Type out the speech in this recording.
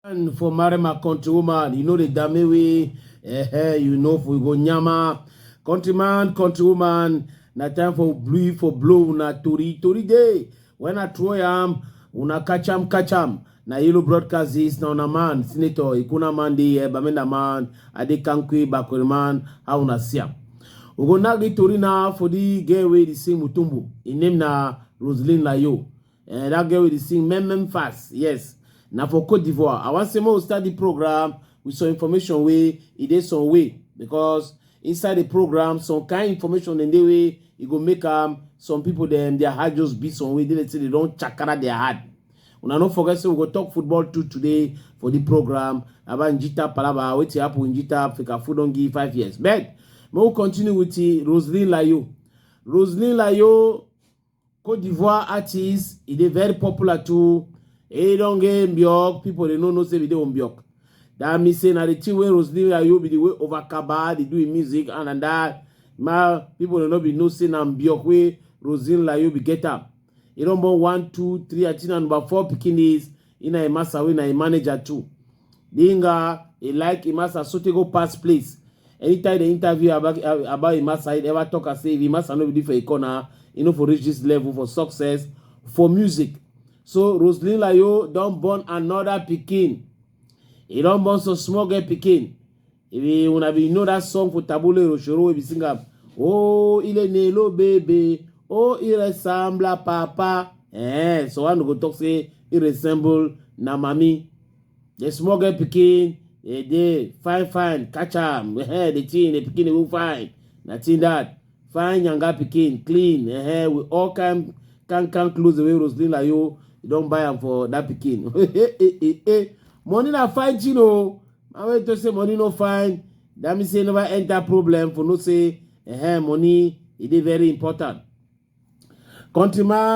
And for marry my country woman, you know the dame way, eh, eh, you know for go nyama. Countryman, countrywoman, na time for blue for blow na tori tori day. When I throw yam, una catch am, catch am. Na Ilu broadcast this, na una man, Senator Ikuna Mandi, eh, Bamenda man, Adi Kankwi, Bakuri man, how una see am. We go now get Tori now for the girl wey dey sing Mutumbu. Im name na Roseline Layo. Eh, that girl wey dey sing Mem Mem Fast, yes. Na for Cote d'Ivoire. I wan say make we start the program with some information wey e dey some way because Inside the program, some kind information in the way e go make am some people dem their heart just beat some way. They dey say they don chakara their heart. Una no forget say we go talk football too today for the program about Njita Palaba, wetin happen with Njita Africa food don give five years. But may we continue with the Roseline Layo. Roseline Layo Cote d'Ivoire artist, he dey very popular too. He don get Mbiok, people dey no know say we dey Mbiok. That means say na the thing wey Roseline Ayo be the way over Kaba, dey do him music and and that. Ma, people dey no be know say na Mbiok wey Roseline Layo be get am. He don born one, two, three, I think na number four pikin is. He na a master wey na a manager too. Dinga, he like Imasa sotey go pass place. Anytime they interview about about Imasa, he never talk as say if Imasa no be dey for a corner, he no for reach this level for success for music. So Roseline Layo don born another pikin. He don born some small girl pikin. Ebi una bin know that song for Tabule Rochoro wey be sing am. Oh, ile nelo baby. Oh, he resembla papa. Eh, so one go talk say he resemble na mami. The small girl pikin, eh, dey fine fine, catch am. Eh, the thing, the pikin will fine. Nothing that. Fine younger pikin, clean. Eh, with all kind can can clothes the way Roslyn like you, you don't buy am for that pikin. eh, eh, eh, eh. Money na fine thing oh. na wey to say money no fine that mean say never enter problem for no say eh money e dey very important countryman